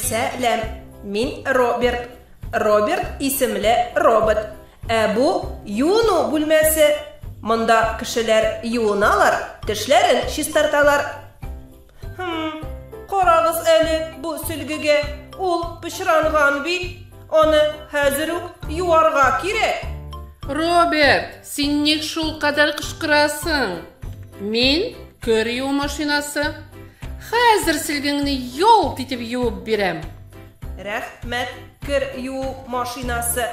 Сәлам. Мин Роберт. Роберт исемле робот. Ә бу юыну бүлмәсе. Монда кешеләр юыналар, тешләрен чистарталар. Хм, карагыз әле бу сөлгегә. Ул пычранган бит. Аны хәзер үк юарга кирәк. Роберт, син ник шул кадәр кычкырасың? Мин көр юу машинасы. Хәзер сөлгеңне ялт итеп юып бирәм. Рәхмәт, кер юу машинасы.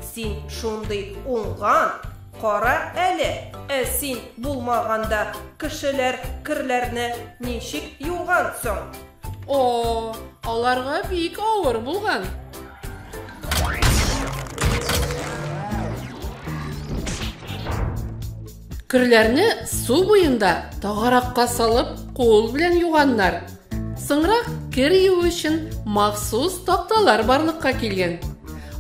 Син шундый уңган. Кара әле, ә син булмаганда кешеләр керләрне ничек юган соң? О, аларга бик авыр булган. Керләрне су буенда тагаракка салып, кул белән юганнар. Соңрак кер юу өчен махсус такталар барлыкка килгән.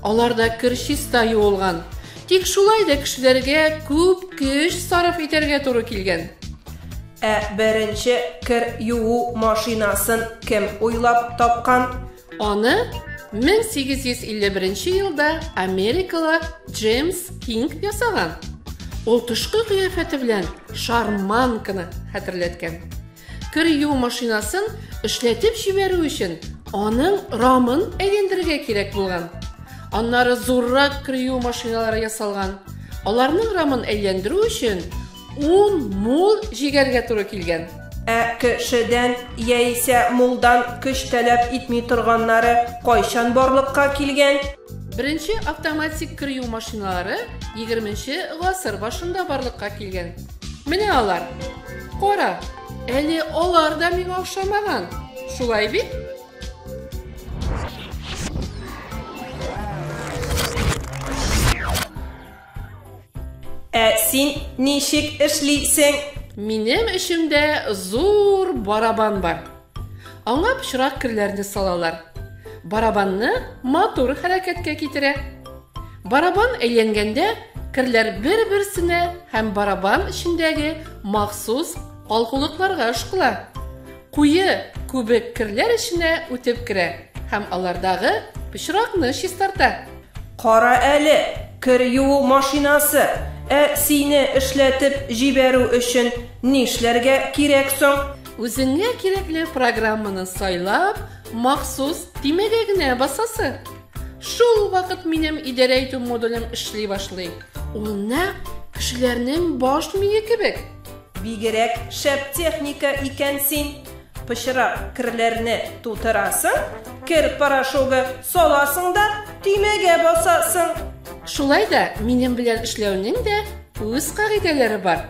Аларда кер чиста юылган. Тик шулай да кешеләргә күп көч сарыф итәргә туры килгән. Ә беренче кер юу машинасын кем уйлап тапкан? Аны 1851 елда америкалы Джеймс Кинг ясаган. Ул тышкы кыяфәте белән шарманканы хәтерләткән. Кер юу машинасын эшләтеп җибәрү өчен аның рамын әйләндерергә кирәк булган. Аннары зуррак кер юу машиналары ясалган. Аларның рамын әйләндерү өчен 10 мул җигәргә туры килгән. Ә кешедән яисә мулдан көч таләп итми торганнары кайчан барлыкка килгән? Беренче автоматик кер юу машиналары егерменче гасыр башында барлыкка килгән. Менә алар. Кара, әле алар да миңа охшамаган. Шулай бит? Ә син ничек эшлисең? Минем эчемдә зур барабан бар. Аңа пычрак керләрне салалар. Барабанны матур хәрәкәткә китерә. Барабан әйләнгәндә керләр бер-берсенә һәм барабан эчендәге махсус алгулыкларга ышкыла. Куе күбек керләр эченә үтеп керә һәм алардагы пычракны чистарта. Кара әле, кер юу машинасы, ә сине эшләтеп җибәрү өчен нишләргә кирәк соң? Үзеңә кирәкле программаны сайлап, махсус тимәгә генә басасы. Шул вакыт минем идарә итү модулем эшли башлый. Ул нәкъ кешеләрнең баш мие кебек. Бигерәк шәп техника икән син. Пычрак керләрне тутырасың, кер порошогы саласың да тимәгә басасың. Шулай да минем белән эшләүнең дә үз кагыйдәләре бар.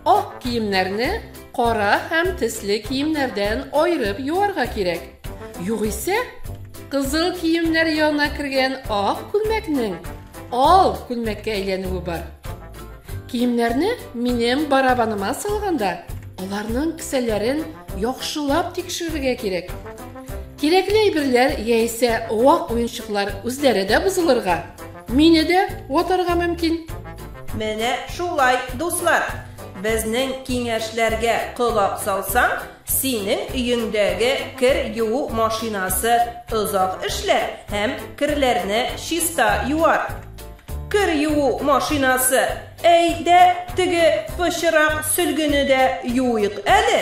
Ак киемнәрне кара һәм тисле киемнәрдән айырып юарга кирәк. Югыйсә, кызыл киемнәр янына кергән ак күлмәкнең ал күлмәккә әйләнүе бар. Киемнәрне минем барабаныма салганда, аларның кесәләрен яхшылап тикшерергә кирәк. Кирәкле әйберләр яисә вак уенчыклар үзләре дә бозылырга Мине дә ватарга мөмкин. Менә шулай, дуслар. Безнең киңәшләргә колак салсаң, синең өеңдәге кер юу машинасы озак эшләр һәм керләрне чиста юар. Кер юу машинасы, әйдә теге пычырак сөлгене дә юыйк әле.